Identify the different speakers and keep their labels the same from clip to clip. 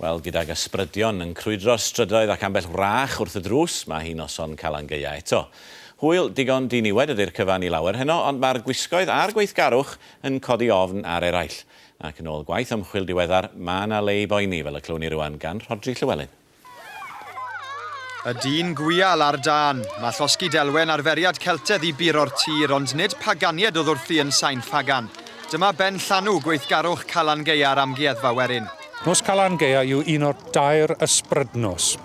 Speaker 1: Wel, gydag ysbrydion yn crwydro'r strydoedd ac ambell wrach wrth y drws, mae hi noson Calan Gaea eto. Hwyl digon diniwed ydi'r cyfan i lawer heno, ond mae'r gwisgoedd a'r gweithgarwch yn codi ofn ar eraill. Ac yn ôl gwaith ymchwil diweddar, mae 'na le i boeni, fel y clywni rŵan gan Rhodri Llywelyn.
Speaker 2: Y dyn gwial ar dân. Mae llosgi delwen arferiad Celtedd i buro'r tir, ond nid paganied oedd wrthi yn Sain Ffagan. Dyma ben llanw gweithgarwch Calan Gaea ar Amgueddfa Werin. Nos Calan Gaea
Speaker 3: yw un o'r dair ysbrydnos,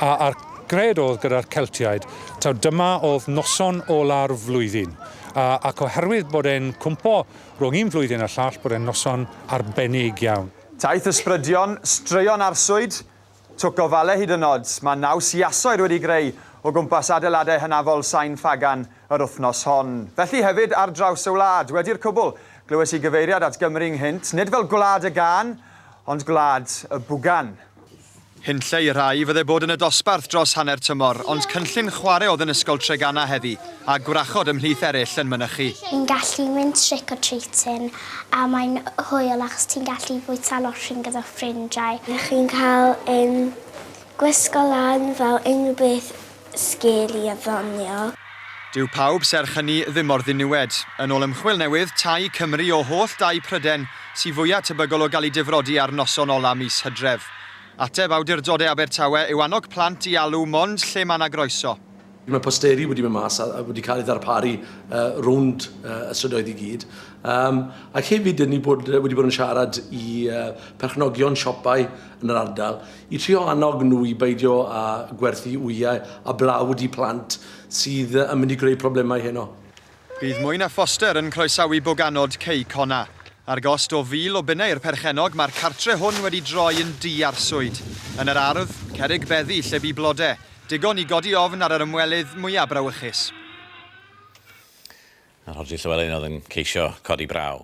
Speaker 3: a a'r gred oedd gyda'r Celtiaid taw dyma oedd noson ola'r flwyddyn, a ac oherwydd bod e'n cwmpo rhwng un flwyddyn a'r llall bod e'n noson arbennig iawn. Taith ysbrydion,
Speaker 2: straeon arswyd, Twc o fale hyd yn oed, mae naws iasoer wedi greu o gwmpas adeiladau hynafol Sain Ffagan yr wythnos hon. Felly hefyd ar draws y wlad. Wedi'r cwbl, glywes i gyfeiriad at Gymru ynghynt, nid fel gwlad y gân, ond gwlad y bwgan. Hunlle i rhai, fydde bod yn y dosbarth dros hanner tymor, ond cynllun chwarae oedd yn Ysgol Treganna heddi, a gwrachod ymhlith eraill yn mynychu. Ni'n gallu mynd
Speaker 4: trick or treating a mae'n hwyl achos ti'n gallu fwyta losin gyda ffrindiau. Chi'n cael
Speaker 5: yn gwisgo lan fel unrhyw beth sgil i addonio. Dyw pawb
Speaker 2: serch hynny ddim mor ddiniwed. Yn ôl ymchwil newydd, Tŷ Cymru, o holl dai Pryden, sy fwya' tebygol o gael eu difrodi ar noson ola' mis Hydref. Ateb awdurdode Abertawe yw annog plant i alw mond lle mae 'na groeso. Mae posteri
Speaker 6: wedi mynd mas a wedi cael ei ddarparu rownd y strydoedd i gyd. Yym ac hefyd dyn ni bod wedi bod yn siarad i perchnogion siopau yn yr ardal i trio annog nhw i beidio â gwerthu wyau a blawd i plant sydd yn mynd i greu problemau heno. Bydd mwy na
Speaker 2: phoster yn croesawu boganod Cei Cona. Ar gost o fil o bunnau i'r perchennog, mae'r cartre hwn wedi droi yn dŷ arswyd. Yn yr ardd, cerrig beddi lle bu blode, digon i godi ofn ar yr ymwelydd mwya' brawychus.
Speaker 1: A Rhodri Llywelyn oedd yn
Speaker 2: ceisio
Speaker 1: codi braw.